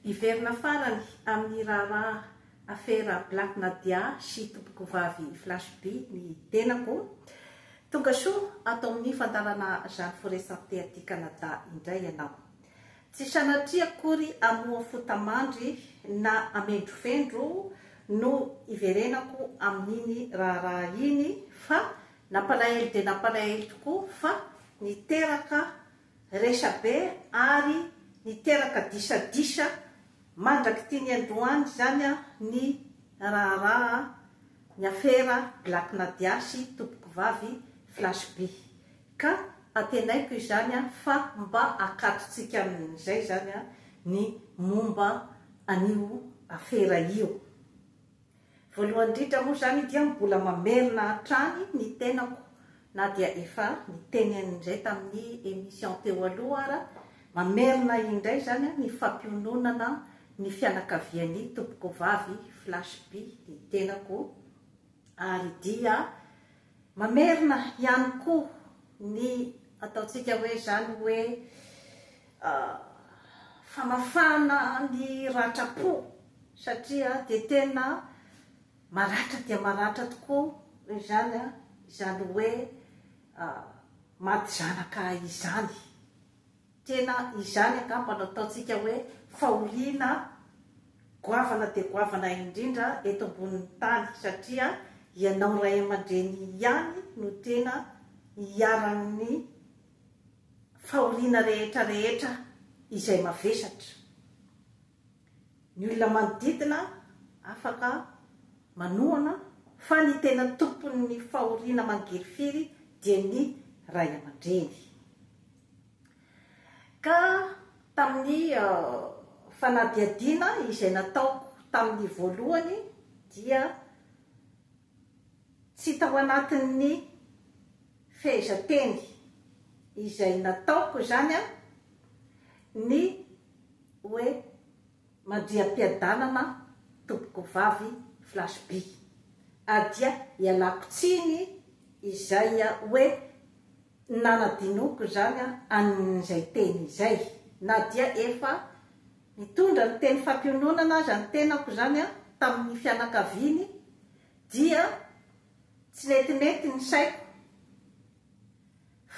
Hiverina farany amin'ny raharaha afera Black Nadia sy tompokovavy Flash By ny tenako. Tonga soa ato amin'ny fandaharana Jeanne Foret Santé aty Canada indray ianao. Tsy sanatria akory hamoha fota-mandry na hamendrofendro no hiverenako amin'iny raharaha iny fa nampalahelo dia nampalahelo tokoa fa niteraka resabe ary niteraka disadisa mandrak'ity niandohany izany ny raharaha ny afera Black Nadia sy Tompokovavy Flash Bee ka antenaiko izany fa mba akatotsika amin'izay izany ny momba an'io afera io Voalohany indrindra moa izany dia mbola mamerina hatrany ny tenako na dia efa niteny an'indray tamin'ny emission teo aloha ara, mamerina indray izany ny fampiononana ny fianakavian'ny tompokovavy Flash By ny tenako ary dia. Mamerina ihany koa ny ataontsika hoe izany hoe famafana ny ratram-po satria dia tena maratra dia maratra tokoa izany izany hoe maty zanaka izany. Tena izany angamba no ataontsika hoe fahoriana goavana dia goavana indrindra eto ambonin'ny tany satria ianao ray aman-dreny ihany no tena iharan'ny fahoriana rehetra rehetra izay mavesatra. Ny olona manodidina afaka manohana fa ny tena tompon'ny fahoriana mangirifiry dia ny ray aman-dreny. Ka tamin'ny fanadihadiana izay nataoko tamin'ny voalohany dia tsy tao anatin'ny fehezanteny izay nataoko izany ny hoe mandria am-piadanana tompoko vavy flash by ah dia ialako tsiny izay hoe nanadinoako izany an'izay teny izay na dia efa nitondra ny teny fampiononana aza ny tenako izany tamin'ny fianakaviany dia tsy netinety ny saiko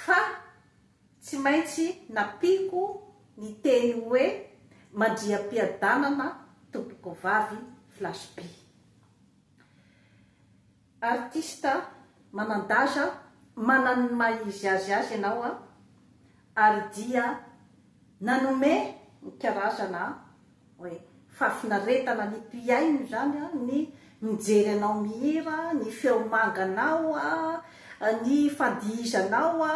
fa Tsy maintsy nampiako ny teny hoe mandriam-piadanana tompokovavy Flash By. Artista manan-daza manan' ny maha izy azy azy ianao a! ary dia nanome ny karazana Oe fahafinaretana ny mpihaino izany a, ny mijery anao mihira, ny feo manganao a, ny fandihizanao a,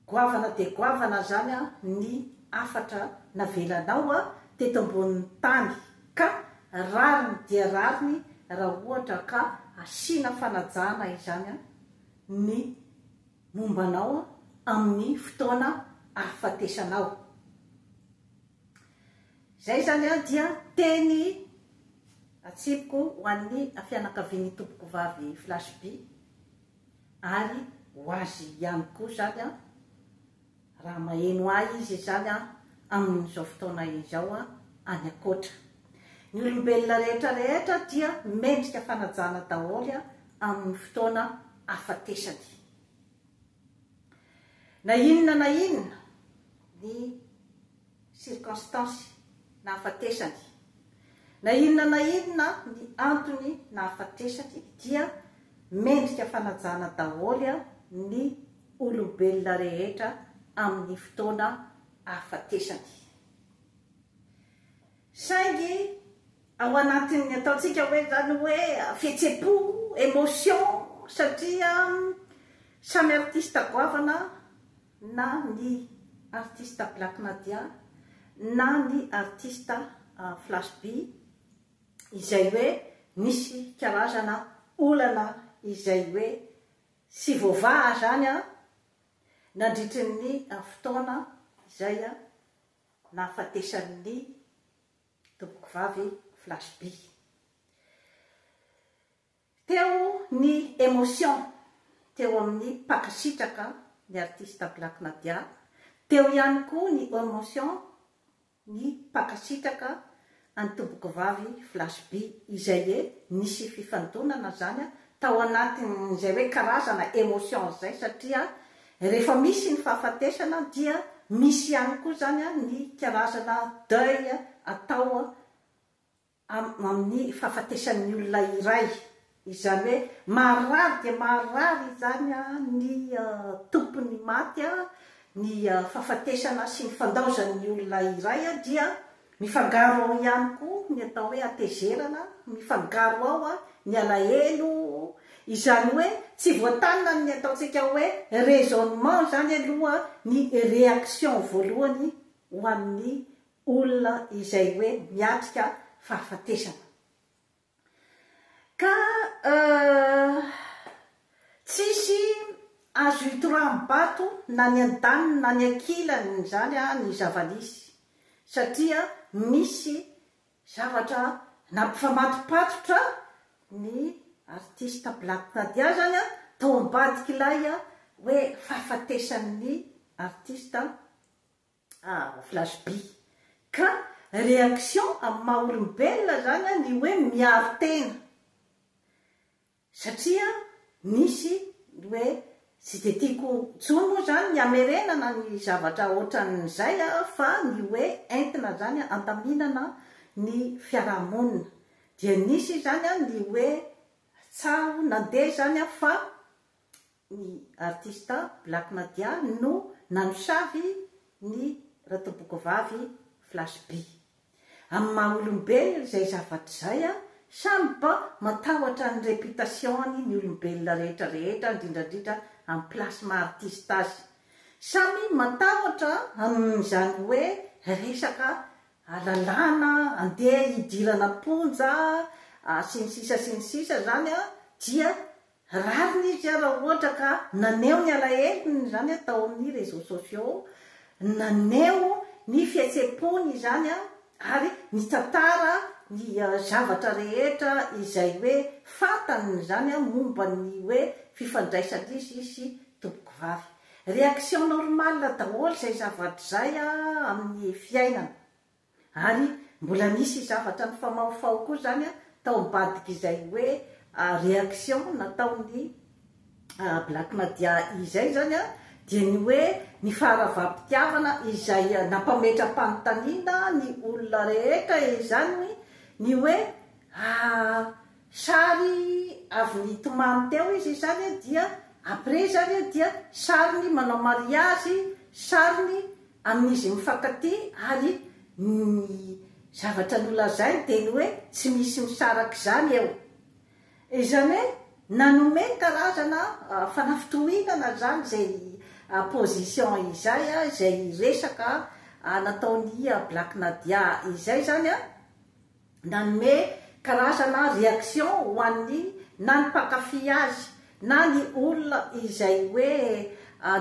goavana dia goavana izany a ny hafatra navelanao a teto ambonin'ny tany ka rariny dia rariny raha ohatra ka asiana fanajana izany a ny momba anao amin'ny fotoana ahafatesanao. Izay izany dia teny atsipiko ho an'ny fianakavian'ny Tompokovavy Flash Bee ary ho azy ihany koa izany. Raha maheno ahy izy izany an, amin'izao fotoana izao an, any ankoatra. Ny olombelona rehetra rehetra dia mendrika fanajana daholo an, amin'ny fotoana afatesany. Na inona na inona ny. circonstances, nahafatesany. Na inona na inona ny antony nahafatesany dia mendrika fanajana daholo ny olombelona rehetra amin'ny fotoana ahafatesany. Saingy ao anatin'ny ataontsika hoe izany hoe fihetsem-po, emotion, satria samy artista goavana na ny artista Black Madya na ny artista Flash Bee izay hoe nisy karazana olana izay hoe tsy voavaha izany nandritry ny fotoana izay nahafatesan'ny tompokovavy Flash Bee. Teo ny emotion teo amin'ny mpankasitraka ny artista Black Nadia, teo ihany koa ny emotion ny mpankasitraka an'i Tompokivavy Flash By izay e nisy fifandonana zany tao anatin'izay hoe karazana emotions zay satria rehefa misy ny fahafatesana dia misy ihany koa zany ny karazana deuil atao amin'ny fahafatesan'ny olona iray, izany hoe maharary dia maharary izany ny tompon'ny maty, ny fahafatesana sy ny fandaozan'ny olona iray dia mifangaro ao ihany koa ny atao hoe hatezerana, mifangaro ao ny alahelo, izany hoe tsy voatanina amin'ny ataontsika hoe raisonnement izany aloha ny réaction voalohany ho an'ny olona izay hoe miatrika fahafatesana. Ka tsisy azo itoraham bato na ny andaniny na ny ankilany izany ny zavanisy satria misy zavatra nampifamatopatotra ny artista Black Nadia zany tao ambadik'ilay hoe fahafatesan'ny artista Ah flash by. Ka reaction amin'ny maha olombelona zany an ny hoe miaro tena satria nisy ny hoe tsy dia tiako intsony moa zany ny hamerenana ny zavatra otran'izay an fa ny hoe entina zany handaminana ny fiaraha-monina dia nisy zany an ny hoe tsaho nandeha zany an fa Ny artista Black Madya no nanosavy ny ratobokovavy Flash Bhi. Amin'ny maha olombelona izay zavatra izay, samy mba matahotra ny réputation-ny ny olombelona rehetra rehetra, indrindra indrindra amin'ny place maha artista azy. Samy matahotra amin'izany hoe resaka lalàna andeha hidirana am-ponja sy ny sisa sy ny sisa izany dia Rariny izy raha ohatra ka naneho ny alahelony izany tao amin'ny réseaux sociaux, naneho ny fihetsem-pony izany ary nitantara ny zavatra rehetra izay hoe fantany izany momba ny hoe fifandraisan'izy sy tompokovavy. Réaction normale daholo izay zavatra izay amin'ny fiainana. Ary mbola nisy zavatra nifamahofaho koa izany tao ambadik'izay hoe réaction nataon'ny Black Nadia izay izany dia ny hoe ny faharavam-pitiavana izay nampametra-panontaniana ny olona rehetra izany ny hoe sary avy nitomany teo izy izany dia après izany dia sariny manao mariazy, sariny amin'izy mifankatia ary ny zavatra nolazainy dia ny hoe tsy misy misaraka izany eo. Izany hoe nanome karazana fanafitohinana izany izay position izay, izay resaka nataon'i Black Nadia izay izany. nanome karazana reaction ho an'ny na ny mpankafy azy na ny olona izay hoe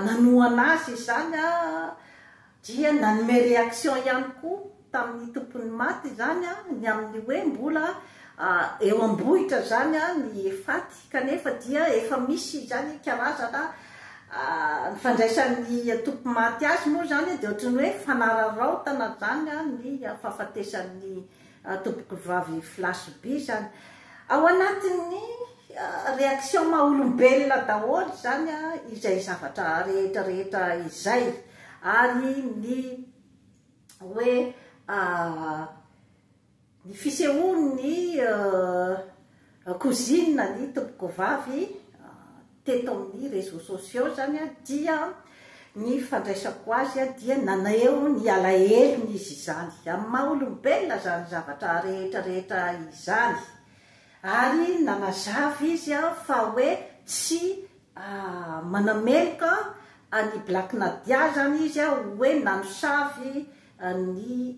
nanohana azy izany dia nanome reaction ihany koa tamin'ny tompon'ny maty izany ny amin'ny hoe mbola eo am-bohitra izany ny faty. Kanefa dia efa misy izany karazana ny fandraisan'ny antoko maty azy moa izany dia ohatran'ny hoe fanararaotana izany ny fahafatesan'ny tompoko vavy Flash Bee izany. Ao anatin'ny réaction maha olombelona daholo izany izay zavatra rehetra rehetra izay ary ny hoe Ny fisehoan' ny cousine ny tompokovavy teto amin' ny réseaux sociaux izany dia ny fandraisako azy dia naneho ny alahelony izy izany amin' ny maha olombelona izany zavatra rehetra rehetra izany ary nanazava izy fa hoe tsy manameloka an' i Black Nadia izany izy hoe nanosavy an'i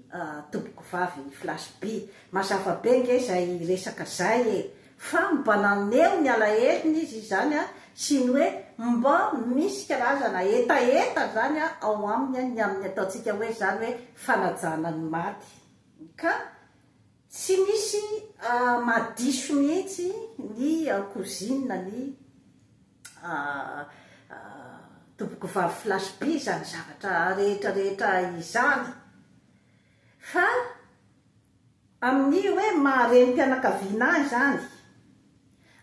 tobiko vavy flash be. Mazava be nge zay resaka zay e! Fa mba naneho ny alahelony izy izany a! sy ny hoe mba misy karazana hetaheta izany ao aminy ny amin'ny ataontsika hoe izany hoe fanajana ny maty ka Tsy misy mahadiso mihitsy ny cousine ny tompoko vavy flash be izany zavatra rehetra rehetra izany fa amin'ny hoe maha renim-pianakaviana ahy izany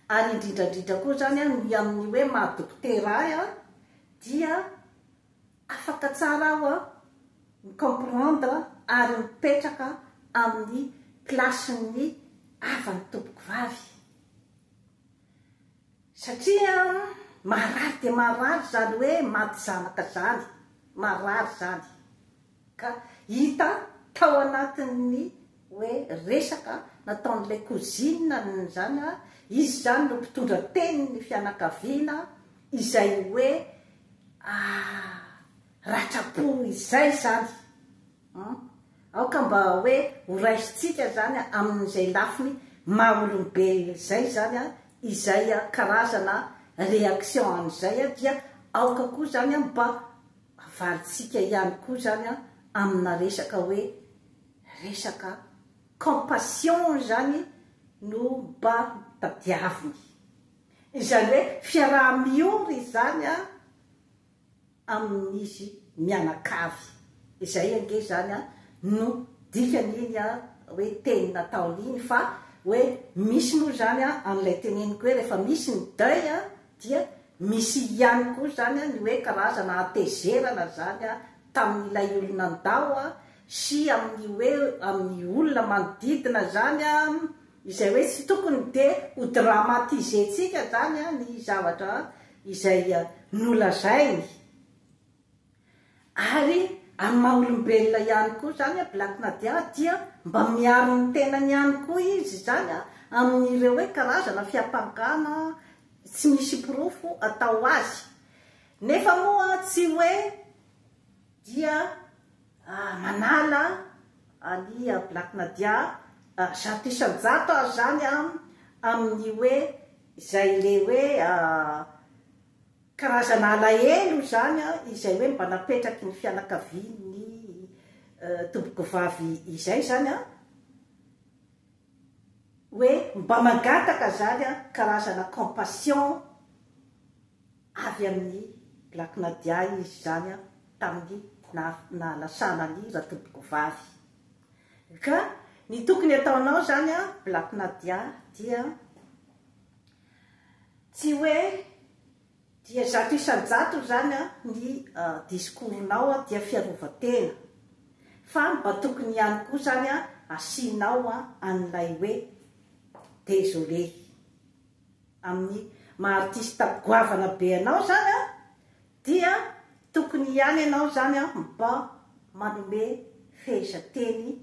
ary indrindra indrindra koa izany ny amin'ny hoe maha dokotera ahy dia Afaka tsara aho mi comprendre ary mipetraka amin'ny place n'ny havan'ny tompoko vavy satria marary dia marary izany hoe maty zanaka izany, marary izany ka hita tao anatin'ny hoe resaka nataon'ilay cousine izany izy izany no mpitondra tenin'ny fianakaviana izay hoe Ah! Ratra po izay izany an! Aoka mba hoe horaisintsika izany amin'izay lafiny maha olombelona izay izany an, izay karazana réaction an'izay an, dia aoka koa izany an mba avalintsika ihany koa izany an amina resaka hoe resaka compassion izany no mba tadiaviny. Izany hoe fiaraha-miory izany an amin'izy mianakavy. Izay ange izany an no dikan'iny an hoe teny nataony iny fa hoe misy moa izany an an'ilay teneniko hoe rehefa misy ny deuil an dia misy ihany koa izany an ny hoe karazana hatezerana izany an tamin'ilay olona ndao an sy amin'ny hoe amin'ny olona manodidina izany an Izay hoe tsy tokony dia ho dramatiser-tsika zany ny zavatra izay nolazainy. Ary amin'ny maha olombelona ihany koa zany Black Nadia dia mba miaro ny tenany ihany koa izy zany amin'ireo hoe karazana fiampangana tsy misy porofo atao azy. Nefa moa tsy hoe dia. Ah manala Ali ah Black Nadia ah zato isan-jato aho zany an amin'ny hoe izay le hoe karazana alahelo izany an izay hoe mba napetraky ny fianakavian'ny tompokovavy izay zany an hoe mba mangataka zany an karazana compassion Avy amin'ny Black Nadia izy izany tamin'ny nahalasana an'i Ratobokovavy. Ka ny tokony ataonao izany Black Nadia dia tsy hoe dia zato isan-jatony izany ny discours-nao dia fiarovan-tena fa mba tokony ihany koa izany asianao an'ilay hoe désolé. amin'ny maha artista goavana be anao zany an, dia tokony ihany ianao zany an mba manome fehezanteny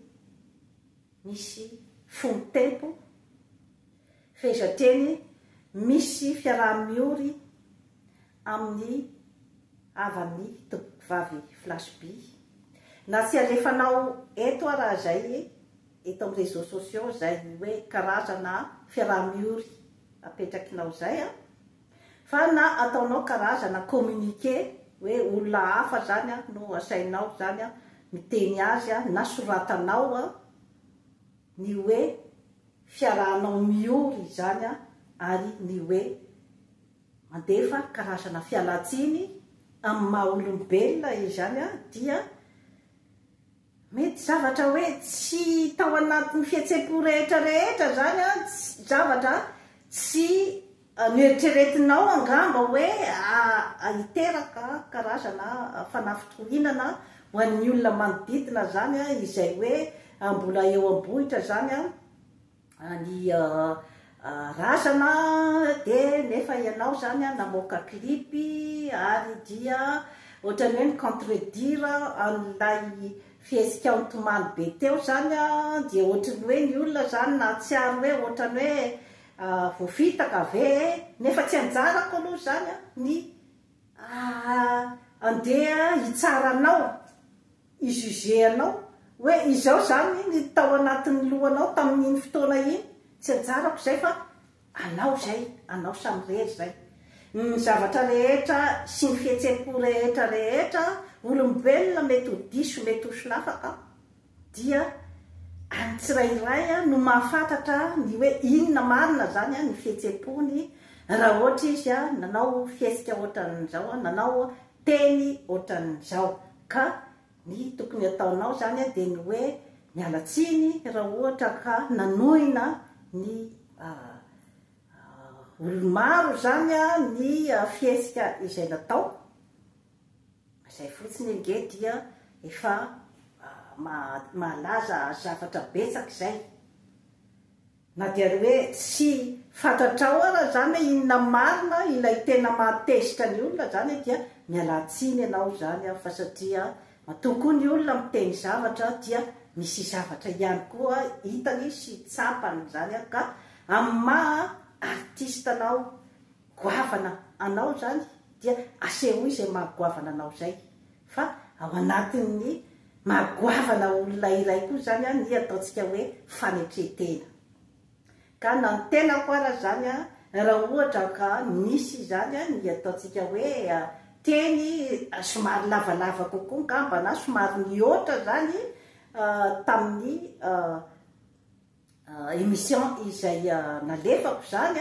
misy fomb tempo, fehezanteny misy fiaraha miory amin'ny havan'ny tompom-pivavy Flash Bee. Na tsy alefanao eto ara zay eto amin'ny réseaux sociaux izay hoe karazana fiaraha-miory apetrakinao izay an, fa na ataonao karazana communiqué hoe olona hafa izany an no asainao izany an miteny azy an na soratanao an ny hoe fiarahanao miory izany an ary ny hoe mandefa karazana fialantsiny amin'ny maha olombelona izany an dia Mety zavatra hoe tsy tao anatin'ny fihetsem-po rehetra rehetra izany an, zavatra tsy noeritreretinao angamba hoe hiteraka karazana fanafitohinana ho an'ny olona manodidina izany an, izay hoe mbola eo am-bohitra izany an. Ny razana dia nefa ianao izany namoaka clip ary dia ohatran'ny hoe mi-contredire an'ilay fihetsika nitomany be teo izany dia ohatran'ny hoe ny olona izany nahatsiaro hoe ohatran'ny hoe voafitaka ve e? Nefa tsy anjarako aloha izany ny handeha hitsara anao. i juge anao hoe izao izany ny tao anatin'ny lohanao tamin'iny fotoana iny, tsy anjarako izay fa anao izay, anao samirery izay. Ny zavatra rehetra sy ny fihetsem-po rehetra rehetra, olombelona mety ho diso, mety ho solafaka, dia an'ny tsirairay no mahafantatra ny hoe inona marina izany ny fihetsem-pony, raha ohatra izy nanao fihetsika ohatran'izao, nanao teny ohatran'izao ka ny tokony hataonao izany dia ny hoe miala tsiny raha ohatra ka nanohina ny olo-maro izany ny fihetsika izay natao, izay fotsiny ange dia efa mahalaza zavatra betsaka izay. Na dia hoe tsy fantatrao ara izany hoe inona marina ilay tena maha tezitra ny olona izany dia mialà tsiny ianao izany aho fa satria matoa koa ny olona miteny zavatra dia misy zavatra ihany koa hitany sy tsapany izany aho ka amin'ny maha artista anao goavana anao izany dia asehoy izay maha goavana anao izay Fa ao anatin'ny maha goavana olona iray koa izany ny ataontsika hoe fanetren-tena. Ka na ny tenako ara izany raha ohatra ka misy izany ny ataontsika hoe teny somary lavalava kokoa angamba na somary nihoatra izany tamin'ny Emission izay nalefako izany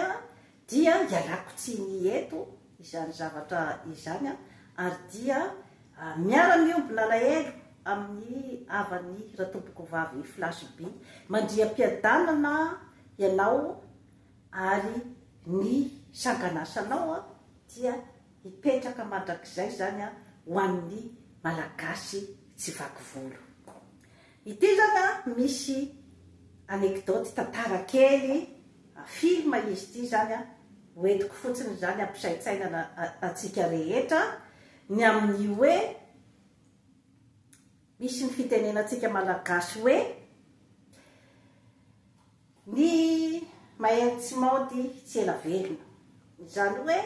dia ialako tsiny eto izany zavatra izany ary dia miara miombona alahelo amin'ny havany Ratompokovavy Flash By. Mandriam-piadanana ianao ary ny sanganasanao dia hipetraka mandrakizay izany ho an'ny Malagasy tsy vaky volo. Ity zany a misy anecdote tantara kely film izy ity zany a hoentiko fotsiny izany hampisaintsainana antsika rehetra ny amin'ny hoe misy ny fitenenantsika malagasy hoe ny mahery tsy maody tsy ela velona izany hoe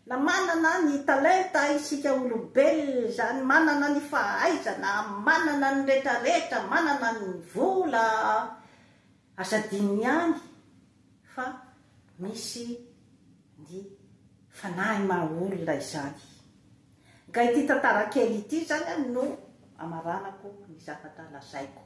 Na manana ny talenta isika olombelona izany, manana ny fahaizana, manana ny retraretra, manana ny vola, aza adinony ihany fa misy ny fanahy maha olona izany. Nga ity tantara kely ity izany no amaranako ny zavatra lazaiko.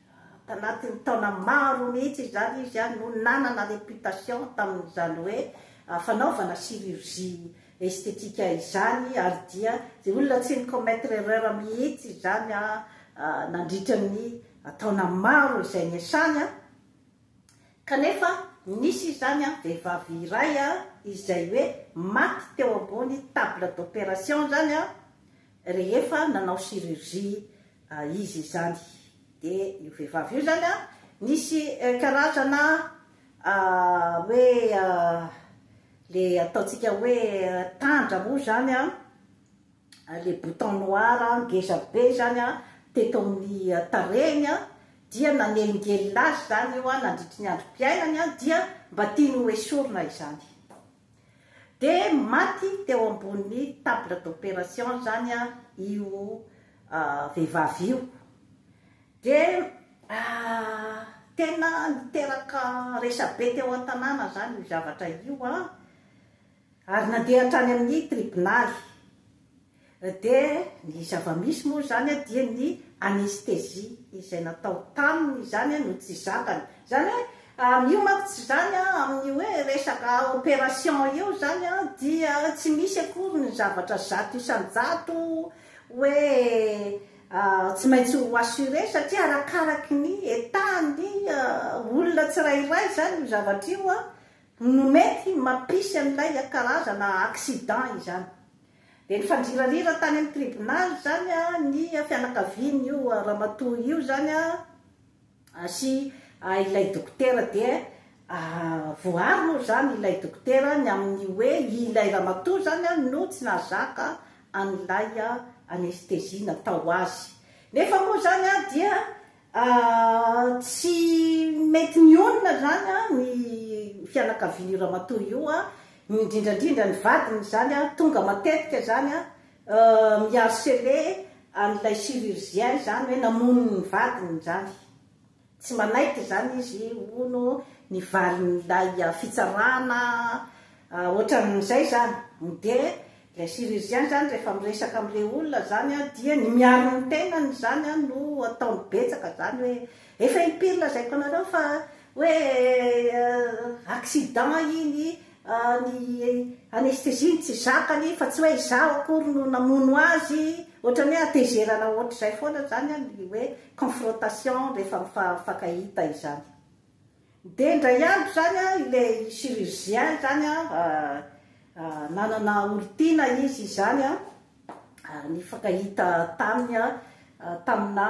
Tanatin'ny taona maro mihitsy izany izy no nanana réputation tamin'izany hoe fanaovana chirurgie esthétique izany ary dia izay olona tsy ni-commettre erreur mihitsy izany nandritra ny taona maro izay niasany kanefa nisy izany vehivavy iray izay hoe maty teo ambony table d'opération izany Rehefa nanao chirurgie izy izany dia io vehivavy io izany an, nisy karazana hoe le ataontsika hoe tandra moa izany an, le bouton noir ngeza be izany an teto amin'ny tarehiny an, dia nanelingelina azy izany io an nandritry ny androm-piainany an dia mba tiany ho esorina izany. Dia maty teo ambony table d'opération izany io vehivavy io. Dia tena niteraka resabe teo an-tanàna izany io zavatra io, ary nandeha hatrany amin'ny tribonaly. Dia ny zava-misy moa izany dia ny anesthésie izay natao taminy izany no tsy zakany. Izany hoe amin'io manko tsy izany amin'ny hoe resaka opération io izany dia tsy misy akory ny zavatra zato isan-jato hoe tsy maintsy ho assuré satria arakaraky ny état-n'ny olona tsirairay izany io zavatra io no mety mampisy an'ilay karazana accident izany. Dia nifandirarira tany amin'ny tribonaly izany ny fianakavian'io ramatoa io izany sy ilay dokotera dia voaaro moa izany ilay dokotera ny amin'ny hoe ilay ramatoa izany no tsy nahazaka an'ilay anestezia natao azy. Nefa moa izany dia Aah tsy mety mionona zany an ny fianakavian'io ramatoa io an, indrindrandrindra ny vadiny izany an tonga matetika izany an mi harceler an'ilay chirurgien izany hoe namono ny vadiny izany, tsy manaiky izany izy hono ny valin'ilay fitsarana an, ohatran'izay izany, dia Ilay chirurgien zany rehefa miresaka amle olona zany an dia ny miaro ny tenany zany an no ataony betsaka zany hoe efa impiry lazaiko anareo fa hoe accident iny an ny anesthesie no tsy zakany fa tsy hoe izaho akory no namono azy otrany hoe atezerana otrzay foana zany an ny hoe confrontation rehefa mifankahita izany. Dia indray andro izany ilay chirurgien izany nanana olon-tiana izy izany ary nifankahita taminy tamina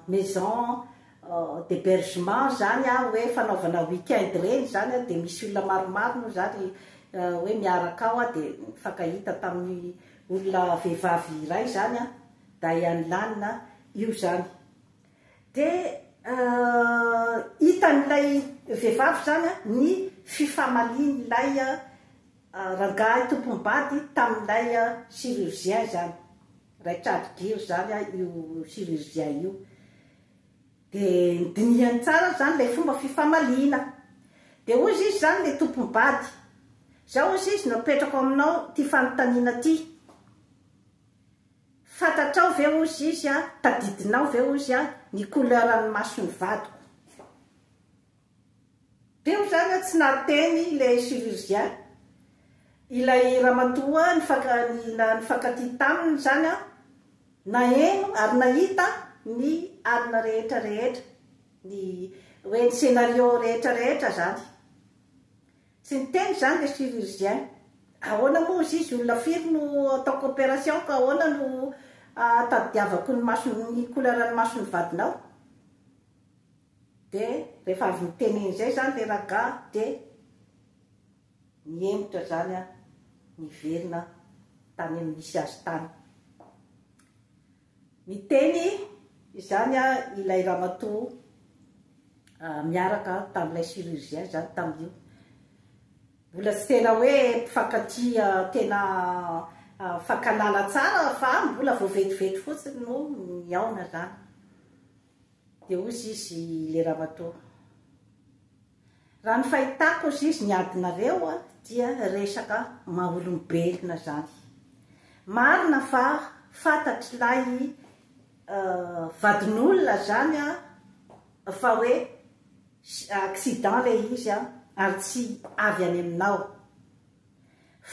maison d'hebergement izany hoe fanaovana week-end ireny izany dia misy olona maromaro moa izany hoe miaraka ao dia nifankahita tamin'ny olona vehivavy iray izany Diane Lane io izany. Dia hitan'ilay vehivavy izany ny fifamalian'ilay rangahy tompony bady tamin'ilay chirurgien izany, Raitrady Giro izany io chirurgien io. Dia dinihany tsara izany ilay fomba fifamaliana. Dia hozy izy izany ilay tompony bady, izao hozy izy no apetrako aminao ity fanontaniana ity. Fantatrao ve ozy izy a, tadidinao ve ozy a, ny couleur ny masony vadiko. Teo zany a tsy nahateny le chirurgien, ilay ramatoa nifankatia taminy zany a, naheno ary nahita ny alina rehetra rehetra, ny hoe ny scenario rehetra rehetra zany. Tsy niteny izany le chirurgien. Ahoana moa ozy izy olona firy no ataoko opération ka ahoana no atadidiavako ny masony ny couleur ny masony vadinao? Dia rehefa avy niteneny izay izany le ragah dia nihemotra izany an niverina tany amin'ny nisy azy tany. Niteny izany ilay ramatoa miaraka tamin'ilay chirurgien izany tamin'io. Mbola tsy tena hoe mpifankatia tena mifankahalala tsara fa mbola vao vetivety fotsiny no nihaona izany. Dia hoy izy ilay ramatoa. Raha ny fahitako azizy ny adinareo dia resaka maha olombelona zany. Marina fa fantatr'ilay vadin'olona zany fa hoe accident ilay izy ary tsy avy any aminao.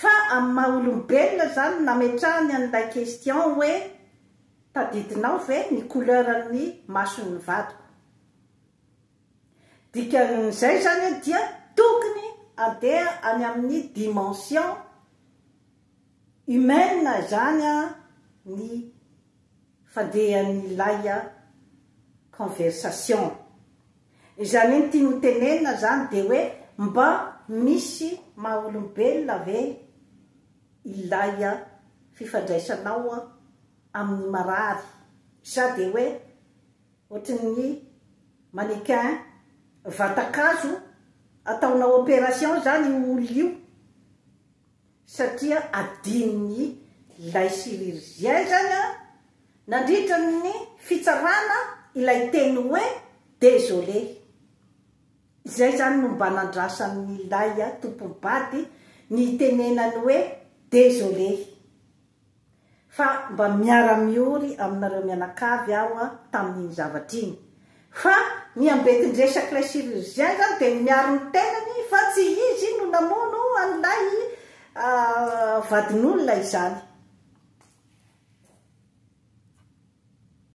Fa amin'ny maha olombelona zany no nametrahany an'ilay question hoe tadidinao ve ny couleur-n'ny mason'ny vadiko. Dikan'izay izany hoe dia tokony handeha any amin'ny dimension humaine izany ny fandehan'ilay conversation. Izany hoe ny tiany hotenenina izany dia hoe mba misy maha olombelona ve ilay fifandraisanao amin'ny marary sa dia hoe Ohatrin'ny mannequin vatan-kazo ataonao opération izany io olona io satria adinon'ny ilay chirurgien izany an! Nandritra ny fitsarana ilay teny hoe désolé. Izay izany no mba nandrasan'ilay tompom-bady ny hitenenany hoe désolé. fa mba miara-miory aminareo mianakavy aho tamin'iny zavatra iny, fa ny ambetin-dresak'ilay chirurgien izany dia ny miaro ny tenany fa tsy izy no namono an'ilay vadin'olona izany.